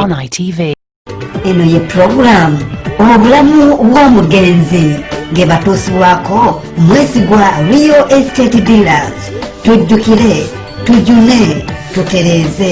On ITV. eno ye pulogulaamu obulamu bw'omugenzi nge batuusibwako mwesigwa rio estate dealers tujjukire tujune tutereeze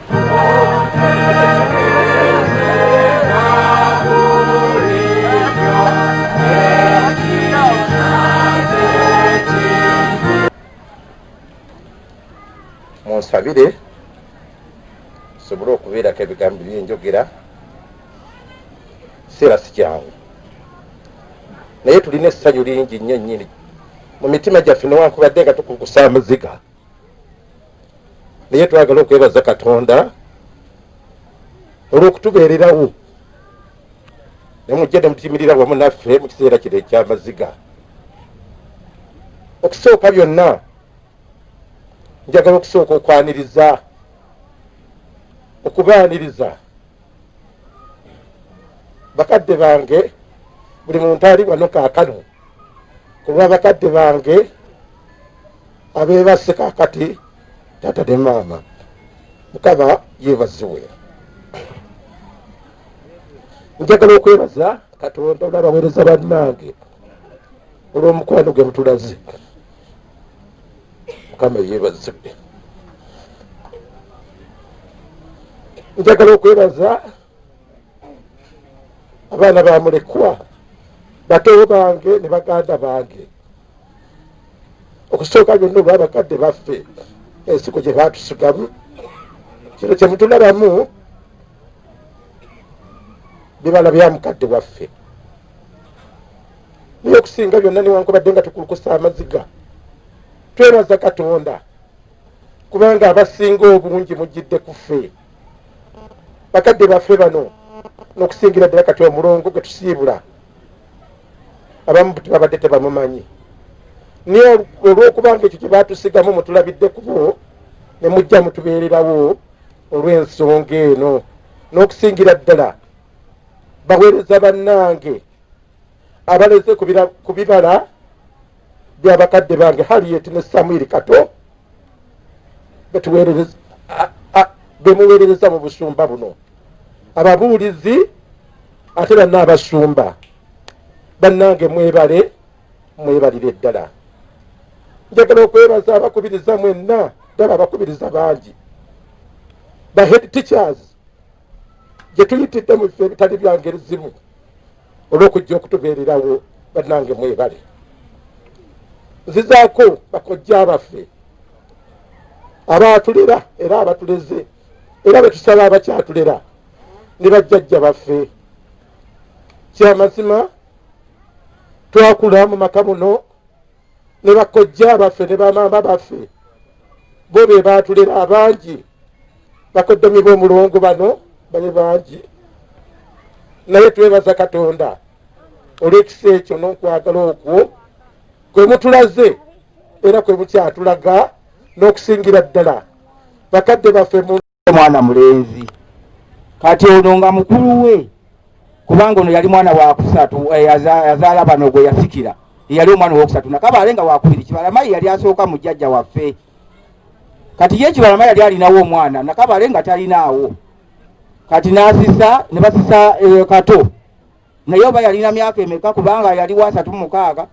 munsabire nsobole okubeerako ebigambo byenjogera kiseera sikyangu naye tulina essanyu lingi nnyo nnyini mu mitima gyaffe newankubadde nga tukukusa amaziga naye twagala okwebaza katonda olw'okutubeererawo nemujja ne mutimirira wamu naffe mu kiseera kino ekyamaziga okusooka byonna njagala okusooka okwaniriza okubaaniriza bakadde bange buli muntu ali wano kakano kuba bakadde bange abebasse kakati tata ne maama mukama yebaziwe njagala okwebaza katonda olabawereza bannange olwomukwano gwe mutulaze mukama yebazibwe njagala okwebaza abaana bamulekwa batewo bange ne baganda bange okusooka byonna olwa bakadde baffe ensigo gye batusigamu kino kyemutulabamu bibala bya mukadde waffe naye okusinga byonna newankubadde nga tukulukusa amaziga twebaza katonda kubanga abasinga obungi mujjidde kuffe bakadde baffe bano nokusingira ddala kati omulongo gwe tusiibula abamu tebabadde tebamumanyi naye olwokubanga ekyo kyebatusigamu mutulabidde kubo ne mujja mutubeererawo olw'ensonga eno n'okusingira ddala baweereza bannange abaleze ku bibala bya bakadde bange hariyeti ne samwiri kato bemuweerereza mu busumba buno ababuulizi ate banna abasumba bannange mwebale mwebalire ddala njagala okwebaza abakubiriza mwenna ddala abakubiriza bangi the head teachers gye tuyitidde mu bifo ebitali bya ngeri zimu olw'okujja okutubeererawo bannange mwebale nzizaako bakojja abaffe abaatulera era abatuleze era betusaba abakyatulera ne bajjajja baffe kyamazima twakula mu maka muno ne bakojja baffe ne bamaama baffe bo be baatulera abangi bakoddomi b'omulongo bano bali bangi naye twebaza katonda olw'ekisa ekyo n'okwagala okwo kwe mutulaze era kwe mukyatulaga n'okusingira ddala bakadde baffe mu omwana mulenzi kati ono nga mukulu we kubanga ono yali mwana wakusatu eh, yazaala bano gwe yasikira eyali omwana owokusatu nakaba ale nga wakubiri kibalamayi yali asooka mu jjajja waffe kati ye kibalama yali alinawo omwana nakabale nga talinaawo kati nasisa ne basisa eh, kato naye oba yalina myaka emeka kubanga yali wasatu mumukaaga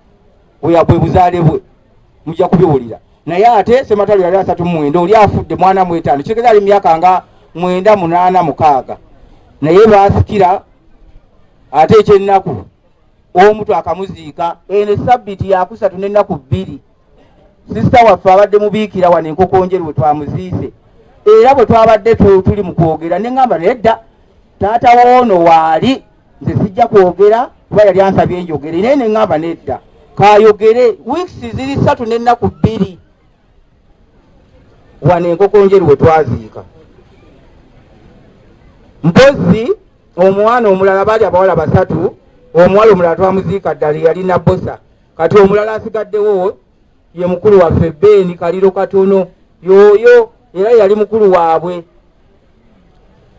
weyabwe buzaale bwe mujja kubiwulira naye ate sematalo yali asatu mumwenda oli afudde mwana mwetaano kitegeza ali myaka nga mwenda munaana mukaaga naye basikira ate ekyennaku omu twakamuziika eno esabbiti yakusatu n'ennaku bbiri sisita waffe abadde mubiikira wano enkokonjeru we twamuziise era bwe twabadde tuli mu kwogera ne ŋŋamba naye dda taata woono waali nze sijja kwogera kuba yali ansabye enjogere naye ne ŋŋamba nedda kayogere weeks ziri ssatu n'ennaku bbiri wano enkokonjeru we twaziika mpozi omwana omulala baali abawala basatu omuwala omulala twamuziika ddala yali nabosa kati omulala asigaddewo ye mukulu waffe beeni kaliro katono yooyo era yali mukulu waabwe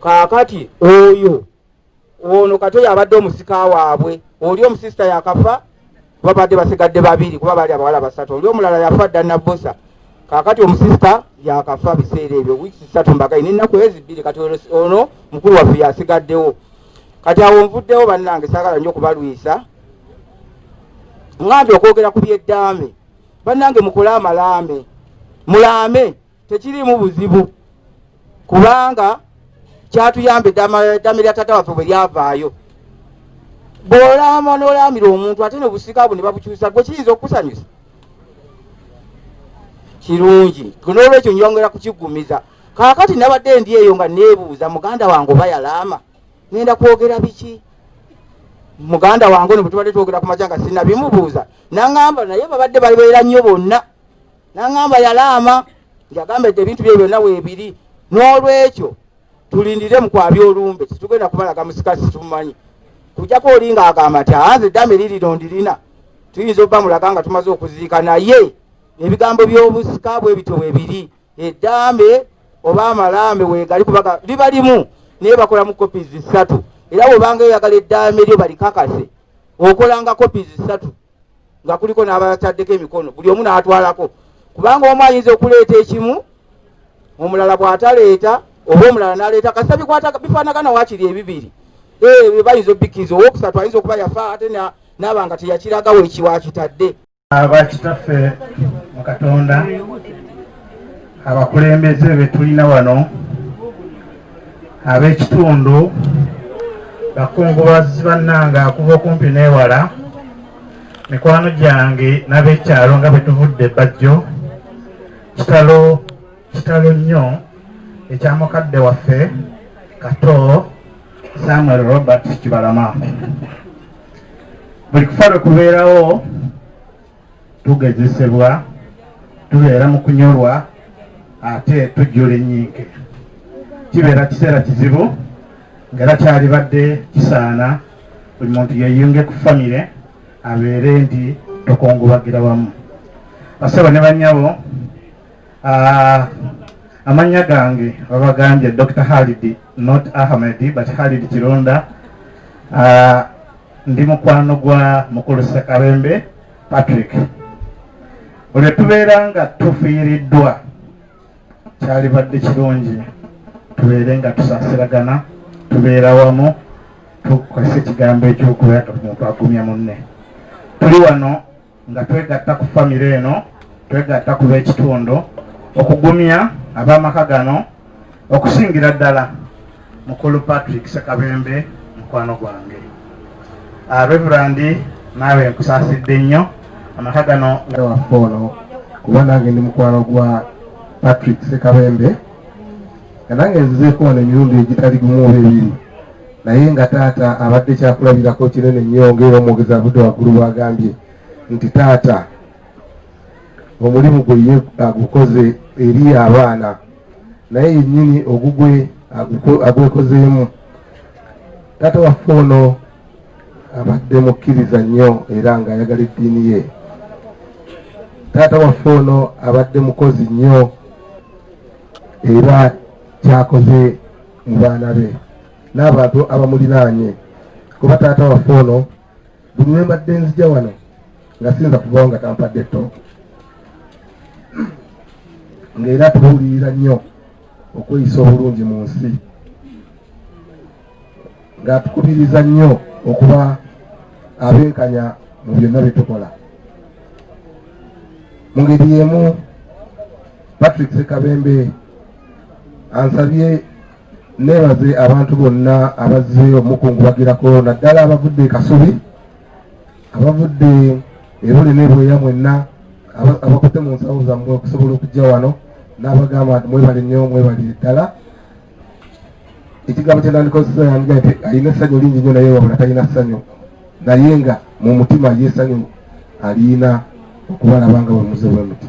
kaakati oyo ono kati oyo abadde omusika waabwe oli omusisita yakafa babadde basigadde babiri kuba baali abawala basatu oli omulala yafa dda nabbosa kakati omusisita yakafa biseera ebyo wiiki sisatu mbagayi nenaku ezi bbiri kati ono mukulu waffe yasigaddewo kati awo nvuddewo bannange sagala nyo okubalwisa ŋŋambye okwogera ku byeddaame bannange mukole amalaame mulaame tekiriimu buzibu kubanga kyatuyamba eddaame lya taata waffe bwe lyavaayo bw'olaama n'olaamira omuntu ate nebusika bwe ne babukyusa gwe kiyinza okukusanyusa kirungi n'olwekyo nyongera kukiggumiza kaakati nabadde ndi eyo nga neebuuza muganda wange oba yalaama ngenda kwogera biki muganda wange ono bwetubadde twogera ku makya nga sinabimubuuza nangamba naye babadde balibeera nnyo bonna nangamba yalaama ngagamba ete ebintu bye byonna weebiri n'olwekyo tulindire mukwabya olumbe tetugenda kubalaga musika situmumanyi kujako oli nga agamba nti anze eddame lirino ndirina tuyinza obba mulaga nga tumaze okuziika naye ebigambo by'obusika bwe bityo bwe biri edambe oba amalambe wegali kubaga liba limu naye bakola mu kopi zisatu era wobanga eyagala edambe lyo balikakase okolanga kopi zisatu nga kuliko n'abataddeko emikono buli omu n'atwalako kubanga omu ayinza okuleeta ekimu omulala bw'ataleeta oba omulala n'aleeta kasita bikwata bifaanagana wakiri ebibiri ebyo eh, bayinza obikkiriza owokusatu ayinza okuba yafa ate n'aba nga teyakiraga wekiwakitadde Aba kitaffe mu Katonda, abakulembeze be tulina wano, ab'ekitundu, bakungubazi bannange akuva okumpi n'ewala, mikwano gyange n'ab'ekyalo nga bwe tuvudde Bajjo kitalo kitalo nnyo ekya mukadde waffe kato samuel robert kibalama buli kufa lwe kubeerawo tugezesebwa tubeera mu kunyolwa ate tujjula ennyinke kibeera kiseera kizibu ngaera kyalibadde kisaana buli muntu yeyunge ku famire abeere nti tokungubagira wamu basebo ne banyabo Ah, amannya gange babagambye dr halidi not ahmedi but halidi kironda ah, ndi mukwano gwa mukulu sekabembe patrick olwe tubeera nga tufiiriddwa kyalibadde kirungi tubeere nga tusaasiragana tubeera wamu tukozesa ekigambo ekyokubeera nga omuntu agumya munne tuli wano nga twegatta ku famire eno twegatta ku b'ekitundu okugumya ab'amaka gano okusingira ddala mukulu patrick sekabembe mukwano gwange ah, reverandi naawe nkusaasidde nnyo amaka gano waffe ono kuba nange ndi mukwano gwa patrick sekabembe nga nange nzizeeko wano emirundi egitali gumu oba ebiri naye nga taata abadde kyakulabirako kinene nnyo ngaera omwogezi avudde waggulu bwagambye nti taata omulimu gwe ye agukoze eri abaana naye yennyini ogugwe agwekozeemu taata waffe ono abadde mukkiriza nnyo era ng'ayagala eddiini ye taata waffe ono abadde mukozi nnyo era kyakoze mu baana be n'abantu abamulinaanye kuba taata waffe ono buli lwe mbadde nzija wano nga sinza kuvawo nga tampadde ttooke ng'era tubuulirira nnyo okweyisa obulungi mu nsi ng'atukubiriza nnyo okuba abenkanya mu byonna bye tukola mu ngeri y'emu patrick sekabembe ansabye neebaze abantu bonna abazze omukungubagirako naddala abavudde kasubi abavudde ebule nebweya mwenna abakutte mu nsawo zammwe okusobola okujja wano n'abagamba nti mwebale nnyo mwebale ddala ekigambo kyenandikozesa yandiga nti alina essanyu lingi nyo naye wabula talina ssanyu naye nga mu mutima ye essanyu aliina okubalaba nga bwemuze bwemuti